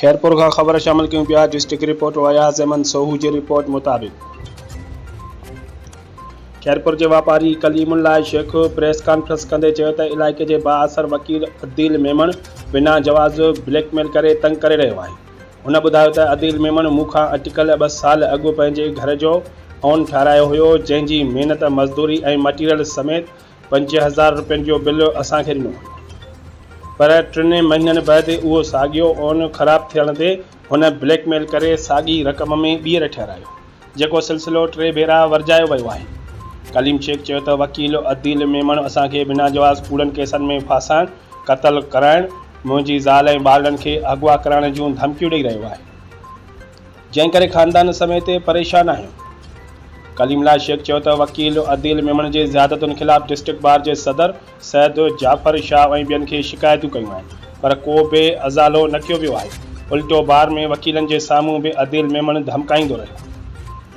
خيرپور کان خبر شامل ڪيون پيا ڊسٽرڪٽ رپورٽر اياز احمد سوهو جي رپورٽ مطابق خيرپور جي واپاري ڪليم الله شيخ پريس ڪانفرنس ڪندي چيو ته علائقي جي بااثر وڪيل عديل ميمڻ بنا جواز بليڪ ميل ڪري تنگ ڪري رهيو آهي هن ٻڌايو ته عديل ميمڻ مون کان اٽڪل ٻه سال اڳ پنهنجي گهر جو اون ٺاهرايو هيو جنهن جي محنت مزدوري ۽ مٽيريل سميت پنج هزار روپين جو بل اسان کي ڏنو پر ٽن مهينن بعد اهو ساڳيو اون خراب ٿيڻ تي هن بليڪ ميل ڪري ساڳي رقم ۾ ٻيهر ٺهرايو جيڪو سلسلو ٽي ڀيرا ورجايو ويو آهي. ڪليم شيخ چيو ته وڪيل عديل ميمڻ اسان کي بنا جواز ڪوڙن ڪيسن ۾ ڦاسائڻ، قتل ڪرائڻ، منهنجي زال ۽ ٻارڙن کي اغوا ڪرائڻ جون ڌمڪيون ڏئي رهيو آهي. جنهن ڪري خاندان سميت پريشان آهيون. ڪليم الله شيخ چيو ته وڪيل عديل ميمڻ جي زيادتين خلاف ڊسٽرڪٽ بار جي صدر سيد جعفر شاهه ۽ ٻين کي شڪايتون ڪيون آهن پر ڪو به ازالو نه ڪيو ويو آهي الٽو بار ۾ وڪيلن جي سامهون به عديل ميمڻ ڌمڪائيندو رهيو.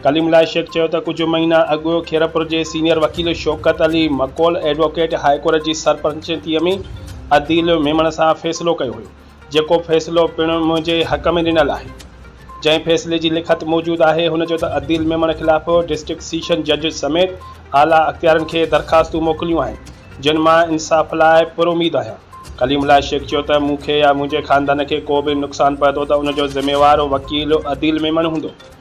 ڪليم الله شيخ چيو ته ڪجهه مهينا اڳ خيرپور جي سينيئر وڪيل Shaukat Ali Makol advocate high court جي سرپرچنتي ۾ عديل ميمڻ سان فيصلو ڪيو هيو. جيڪو فيصلو پڻ منهنجي حق ۾ ڏنل آهي. جنهن فيصلي جي لکت موجود آهي هن چيو ته عديل ميمڻ خلاف ڊسٽرڪٽ سيشن جج سميت اعليٰ اختيارين کي درخواستون موڪليون آهن جن مان انصاف لاء پر اميد آهيان. ڪليم الله شيخ چيو ته مون کي يا منهنجي خاندان کي ڪو به نقصان پهتو ته ان جو ذميوار وڪيل عديل ميمڻ هوندو.